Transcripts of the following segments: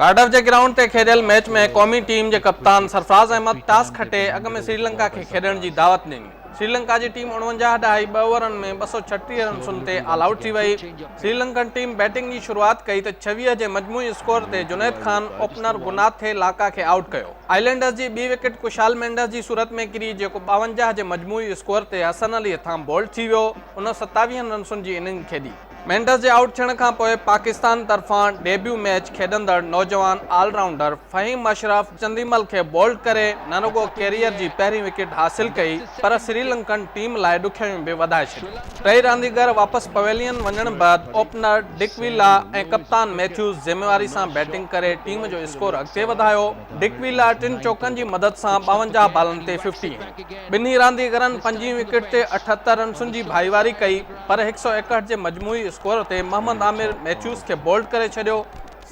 Cardiff جي ground تي کيڏيل ميچ ۾ قومي ٽيم جي ڪپتان سرفراز احمد ٽاس کٽي اڳ ۾ سريلنڪا کي کيڏڻ جي دعوت ڏني. سريلنڪا جي ٽيم اڻونجاهه ڏهائي ٻه اوورن ۾ ٻه سؤ ڇٽيهه رنسن تي آل آئوٽ ٿي وئي. سريلنڪن ٽيم بيٽنگ جي شروعات ڪئي ته ڇويهه جي مجموعي اسڪور تي جنيد خان اوپنر گناٿي لاڪا کي آئوٽ ڪيو. آئلينڊرز جي ٻي وڪيٽ ڪشال مينڊس جي صورت ۾ ڪري جيڪو ٻاونجاهه جي مجموعي اسڪور تي حسن علي هٿان بولڊ ٿي ويو. هن ستاويهن رنسن جي اننگ کيڏي. مينڊس جي آئوٽ ٿيڻ کانپوء پاڪستان طرفان ڊيبيو ميچ کيڏندڙ نوجوان آل رائونڊر فهيم اشرف چنديمل کي بولڊ ڪري نه رڳو ڪيريئر جي پهرين وڪيٽ حاصل ڪئي پر سريلنڪن ٽيم لاء ڏکيائيون به وڌائي ڇڏيون. ٽئي رانديگر واپس پويلين وڃڻ بعد اوپنر ڊڪ ويلا ۽ ڪپتان ميٿيوز ذميواري سان بيٽنگ ڪري ٽيم جو اسڪور اڳتي وڌايو. ڊڪ ويلا ٽن چوڪن جي مدد سان ٻاونجاهه بالن تي ففٽي هنئي. ٻنهي رانديگرن پنجين وڪيٽ تي اٺهتر رنسن جي ڀائيواري ڪئي. پر هڪ سؤ ايڪهٺ جي مجموعي اسڪور تي محمد عامر ميٿيوز کي بولڊ ڪري ڇڏيو،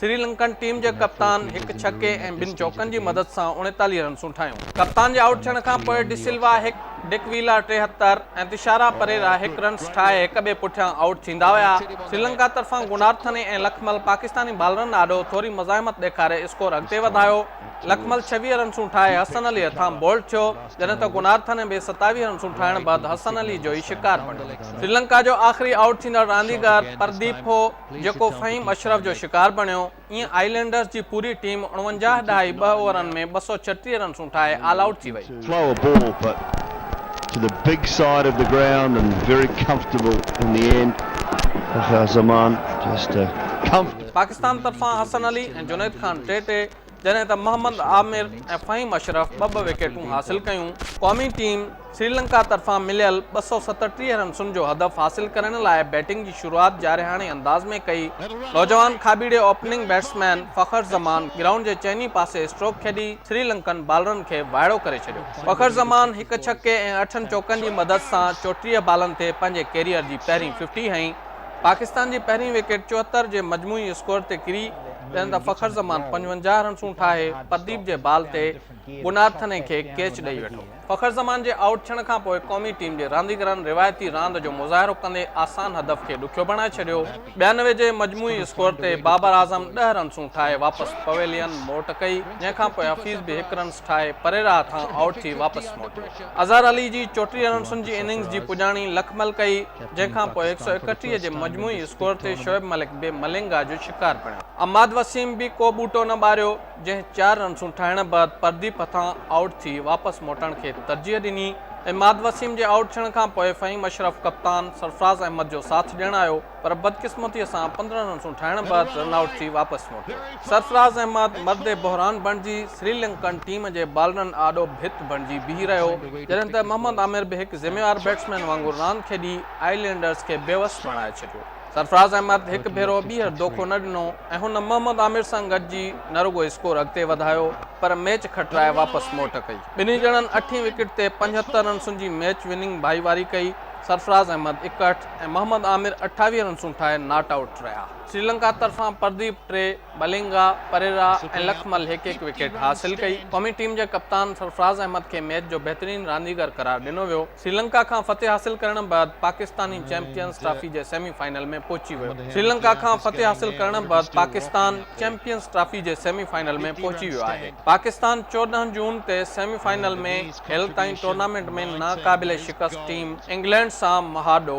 سري لنڪن ٽيم جي ڪپتان هڪ ڇڪي ۽ ٻن چوڪن جي مدد سان اوڻيتاليهه رنسون ٺاهيون. ڪپتان جي آئوٽ ٿيڻ کان پوء ڊي سلوا هڪ، ڊڪ ويلا ٽيهتر ۽ تشارا پريرا هڪ رنس ٺاهي هڪ ٻئي پٺيان آئوٽ ٿيندا ويا. سري لنڪا طرفان گونارٿني ۽ لکمل پاڪستاني بالرن آڏو ٿوري مزاحمت ڏيکاري اسڪور اڳتي وڌايو. لکمل ڇويهه رنسون ٺاهي حسن علي هٿان بولڊ ٿيو، جڏهن ته گنارٿن ۽ ٻئي ستاويهه رنسون ٺاهڻ بعد حسن علي جو ئي شڪار بڻيو. سريلنڪا جو آخري آئوٽ ٿيندڙ رانديگر پرديپ هو، جيڪو فهيم اشرف جو شڪار بڻيو. ايئن آئي لينڊرز جي پوري ٽيم اڻونجاهه ڏهائي ٻه اوورن ۾ ٻه سؤ ڇٽيهه رنسون ٺاهي آل آئوٽ ٿي وئي. پاڪستان طرفان حسن علي ۽ جنيد خان ٽي ٽي جڏهن ته محمد عامر ۽ فهيم اشرف ٻه ٻه وڪيٽون حاصل ڪيون. قومي ٽيم سريلنڪا طرفان مليل ٻه سؤ ستٽيهه رنسن جو هدف حاصل ڪرڻ لاء بيٽنگ جي شروعات جارحاڻي انداز ۾ ڪئي، نوجوان کاٻيڙي اوپننگ بيٽسمين فخر زمان گرائونڊ جي چئني پاسي اسٽروڪ کيڏي سريلنڪن بالرن کي وائڙو ڪري ڇڏيو. فخر زمان هڪ ڇڪي ۽ اٺن چوڪن جي مدد سان چوٽيهه بالن تي پنهنجي ڪيريئر جي پهرين ففٽي هنئي، پاڪستان جي پهرين وڪيٽ چوهتر جي مجموعي اسڪور تي ڪري، جڏهن ته فخر زمان پنجونجاهه رنسون ٺاهي پرديپ جي بال تي گونارٿني کي ڪيچ ڏئي ويٺو. فخر زمان جي آئوٽ ٿيڻ کانپوء قومي ٽيم جي رانديگرن روايتي راند جو مظاهرو ڪندي آسان هدف کي ڏکيو بڻائي ڇڏيو. ٻيانوي جي مجموعي اسڪور تي بابر اعظم ڏهه رنسون ٺاهي واپس پويلين موٽ ڪئي، جنهن کانپوء حفيظ به هڪ رنس ٺاهي پريرا هٿان آئوٽ ٿي واپس موٽيو. اظهر علي جي چوٽيهه رنسن جي اننگز جي پڄاڻي لکمل ڪئي. جنهن کان پوء هڪ سؤ اڪٽيهه جي مجموعي اسڪور تي شعيب ملڪ به ملنگا جو شڪار بڻيو. عماد وسيم به ڪو ٻوٽو نه ٻاريو، جنهن چار رنسون ٺاهڻ بعد پرديپ هٿان آئوٽ ٿي واپس موٽڻ کي ترجيح ڏني. عماد وسيم جي آئوٽ ٿيڻ کان پوء فهيم اشرف ڪپتان سرفراز احمد جو ساٿ ڏيڻ آيو، پر بدقسمتيء سان پندرهن رنسون ٺاهڻ بعد رن آئوٽ ٿي واپس موٽيو. سرفراز احمد مرد بحران بڻجي سري لنڪن ٽيم جي بالرن آڏو ڀت بڻجي بيهي رهيو جڏهن ته محمد عامر به هڪ ذميوار بيٽسمين وانگر راند کيڏي آئي لينڊرز کي بيوس بڻائي ڇڏيو سرفراز احمد هڪ ڀيرو ٻيهر دوکو نه ڏنو ۽ هن محمد عامر سان گڏجي نه رڳو اسڪور اڳتي وڌايو پر ميچ کٽرائي واپس موٽ ڪئي ٻنهي ڄڻن اٺين وڪيٽ تي پنجهتر رنسن جي ميچ وننگ ڀائيواري ڪئي سرفراز احمد اڪهٺ ۽ محمد عامر اٺاويهه رنسون ٺاهي ناٽ آئوٽ رهيا سريلنڪا طرفان پرديپ ٽري، ملنگا، پريرا ۽ لکمل هڪ هڪ وڪيٽ حاصل ڪئي. قومي ٽيم جي ڪپتان سرفراز احمد کي ميچ جو بهترين رانديگر قرار ڏنو ويو. سريلنڪا کان فتح حاصل ڪرڻ بعد پاڪستاني چيمپيئنز ٽرافي جي سيمي فائنل ۾ پهچي ويو سريلنڪا کان فتح حاصل ڪرڻ بعد پاڪستان چيمپيئنز ٽرافي جي سيمي فائنل ۾ پهچي ويو آهي پاڪستان چوڏهن جون تي سيمي فائنل ۾ هيل تائين ٽورنامينٽ ۾ ناقابل شڪست ٽيم انگلينڊ سان مهاڏو